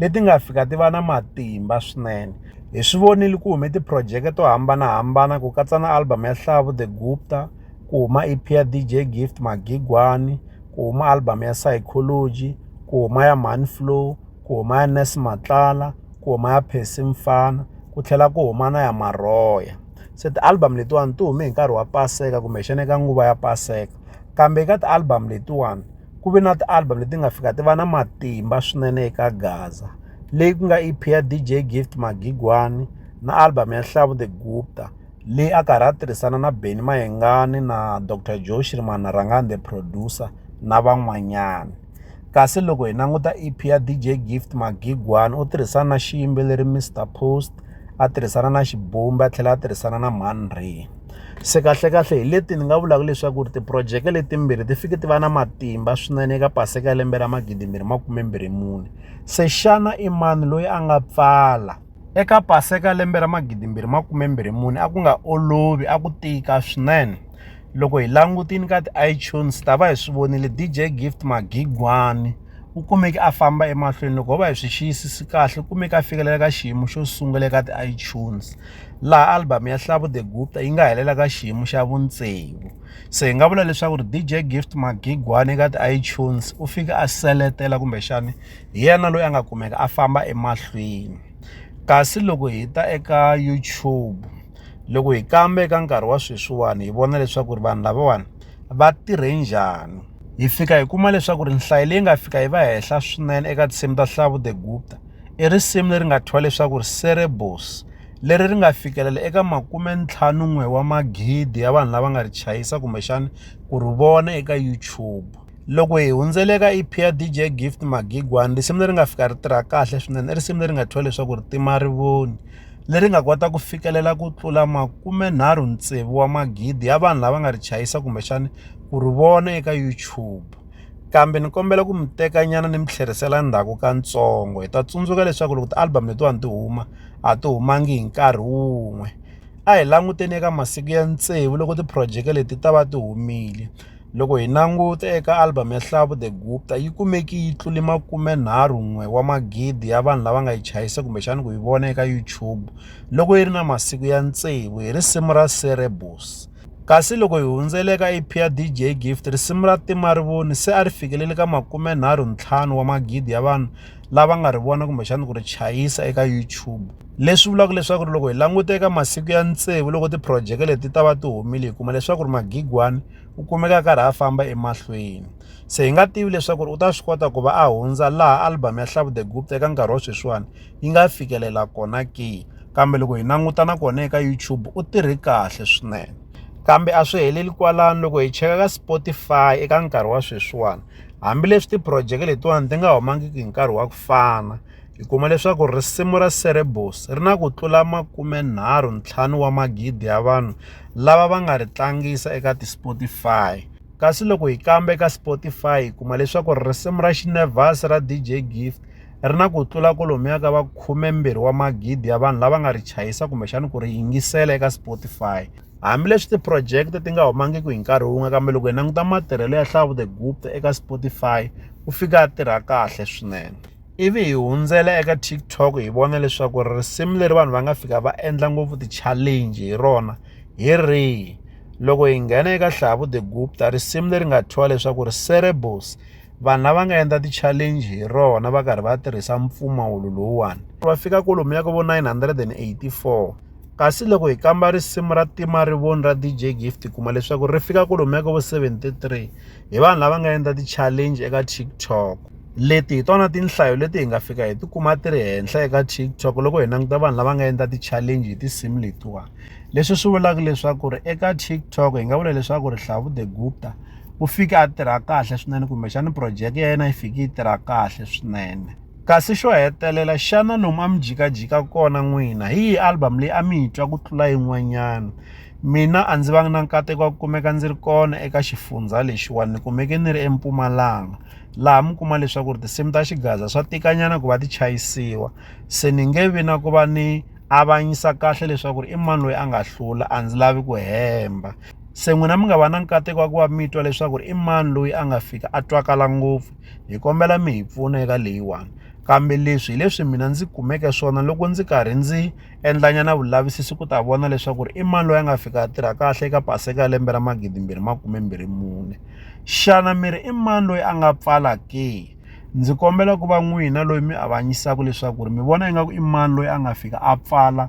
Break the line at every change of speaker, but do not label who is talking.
leti nga fika ti va na matimba swinene hi swi vonile ku hume tiphurojeke to hambanahambana ku katsa na album ya hlavu the gupta ku huma ep ya dj gift magigwani ku huma album ya psychology ku huma ya man flow ku huma ya nes matlala ku huma ya phesi mfana ku tlhela ku huma na ya marhoya se ti-album letiwani ti hume hi nkarhi wa paseka kumbexana eka nguva ya paseka kambe eka ti-album letiwani ku ve na ti-album leti nga fika ti va na matimba swinene eka gaza leyi ku nga E_P ya D_J Gift Magigwani na album ya Nhlavu The Gupta leyi a karhi a tirhisana na Benny Mayengani na Doctor Joe Shirimani Rhangani The Producer na van'wanyana kasi loko hi languta E_P ya D_J Gift Magigwani u tirhisana na xiyimbeleri Mister Post. a tirhisana na xibumba a tlhela a tirhisana na mhani Rhe se kahlekahle hi leti ni nga vulaka leswaku ri tiphurojeke letimbirhi ti fike ti va na matimba swinene eka paseka ya lembe ra magidimbirhi makumembirhi mune se xana i mani loyi a nga pfala eka paseka lembe ra magidimbirhi makumembirhi mune a ku nga olovi a ku tika swinene loko hi langutini ka ti-itunes ta va hi swi vonile dj gift magigwani u kumeke a famba emahlweni loko ho va hi swi xiyisisi kahle u kumeke a fikelela ka xiyimo xo sungula eka ti-itunes laha album ya hlavu the gupta yi nga helela ka xiyimo xa vuntsegu se hi nga vula leswaku ri dj gift magigwani eka ti-itunes u fike a seletela kumbexani hi yena loyi a nga kumeka a famba emahlweni kasi loko hi ta eka YouTube. loko hi kamba eka nkarhi wa sweswiwani hi vona leswaku ri vanhu lavawani va tirhe njhani hi fika hi kuma leswaku ri nhlayo leyi nga fika yi va henhla swinene eka tinsimu ta Hlavu the Gupta i risimu leri nga thyiwa leswaku ri Cerebos leri ri nga fikelela eka makume ntlhanu n'we wa magidi ya vanhu lava nga ri chayisa kumbexana ku ri vona eka YouTube loko hi hundzele ka EP ya DJ Gift Magigwani risimu leri nga fika ri tirha kahle swinene i risimu leri nga thyiwa leswaku ri tima rivoni leri nga kota ku fikelela ku tlula makumenharhu tsevu wa magidi ya vanhu lava nga ri chayisa kumbexana ku ri vona eka YouTube kambe ni kombela ku mi teka nyana ni mi tlherisela ndzhaku ka ntsongo hi ta tsundzuka leswaku loko ti-album letiwani ti huma a ti humangi hi nkarhi wun'we a hi languteni eka masiku ya tsevu loko ti-project leti ta va ti humile. Loko hi languta eka album ya Hlavu The Gupta yi kumeke yi tlule makumenharhu-n'we wa magidi ya vanhu lava nga yi chayisa kumbexana ku yi vona eka YouTube loko yi ri na masiku ya tsevu hi risimu ra Cerebus. Kasi loko hi hundzele eka EP ya DJ Gift, risimu ra Tima Rivoni se a ri fikelele ka makumenharhu-ntlhanu wa magidi ya vanhu lava nga ri vona kumbexana ku ri chayisa eka YouTube leswi vulaka leswaku ri loko hi languta eka masiku ya tsevu loko tiphurojeke leti ta va ti humile hi kuma leswaku ri magigwani u kumeka a karhi a famba emahlweni se hi nga tivi leswaku ri u ta swi kota ku va a hundza laha album ya hlavu the gupta eka nkarhi wa sweswiwani yi nga fikelela kona ke kambe loko hi languta na kona eka YouTube u tirhe kahle swinene kambe a swi heleli kwalano loko hi cheka ka Spotify eka nkarhi wa sweswiwani Hambileswi tiphurojeke letiwani ti nga humangiki hi nkarhi wa ku fana, hi kuma leswaku risimu ra Cerebus ri na ku tlula makumenharhu ntlhanu wa magidi ya vanhu lava va nga ri tlangisa eka ti-Spotify. Kasi loko hi kamba eka Spotify hi kuma leswaku risimu ra Xinevas ra DJ Gift ri na ku tlula kolomuya ka va khumembirhi wa magidi ya vanhu lava nga ri chayisa kumbexana ku ri yingisela eka Spotify. Hambileswi tiprojeke ti nga humangiki hi nkarhi wun'we kambe loko hi languta matirhelo ya Hlavo the Gupta eka Spotify u fika a tirha kahle swinene ivi hi hundzela eka TikTok hi vona leswaku risimu leri vanhu va nga fika va endla ngopfu ti-challenge hi rona hi rihi loko hi nghena eka Hlavo the Gupta risimu leri nga thyiwa leswaku ri Cerebos vanhu lava nga endla ti-challenge hi rona va karhi va tirhisa mpfumawulo lowuwani va fika kolomu ya ka vo 984 Kasi loko hi kamba risimu ra Tima Rivoni ra DJ Gift hi kuma leswaku ri fika kolomu ya ka vo 73 hi vanhu lava nga endla ti-challenge eka TikTok. Leti hi tona tinhlayo leti hi nga fika hi tikuma ti ri henhla eka TikTok loko hi languta vanhu lava nga endla ti-challenge hi tinsimu letiwani. Leswi swi vulaka leswaku ri eka TikTok hi nga vula leswaku ri Hlavu the Gupta u fike a tirha kahle swinene kumbexana project ya yena yi fike yi tirha kahle swinene. Kasi xo hetelela, xana lomu a mi jikajika kona n'wina hi yihi album leyi a mi yi twa ku tlula yin'wanyana? Mina a ndzi vanga na nkateko wa ku kumeka ndzi ri kona eka xifundza lexiwani ni kumeke ni ri eMpumalanga laha mi kuma leswaku ri tinsimu ta xigaza swa tikanyana ku va ti chayisiwa se ni nge vi na ku va ni avanyisa kahle leswaku ri i mani loyi a nga hlula a ndzi lavi ku hemba se n'wina mi nga va na nkateko wa ku va mi twa leswaku ri i mani loyi a nga fika a twakala ngopfu. hi kombela mi hi pfuna eka leyiwani kambe leswi hi leswi mina ndzi kumeke swona loko ndzi karhi ndzi endlanyana vulavisisi ku ta vona leswaku ri i mani loyi a nga fika a tirha kahle eka paseka ya lembe ra magidimbirhi makumembirhi mune xana mi ri i mani loyi a nga pfala ke ndzi kombela ku va n'wina loyi mi avanyisaka leswaku ri mi vona ingaku i mani loyi a nga fika a pfala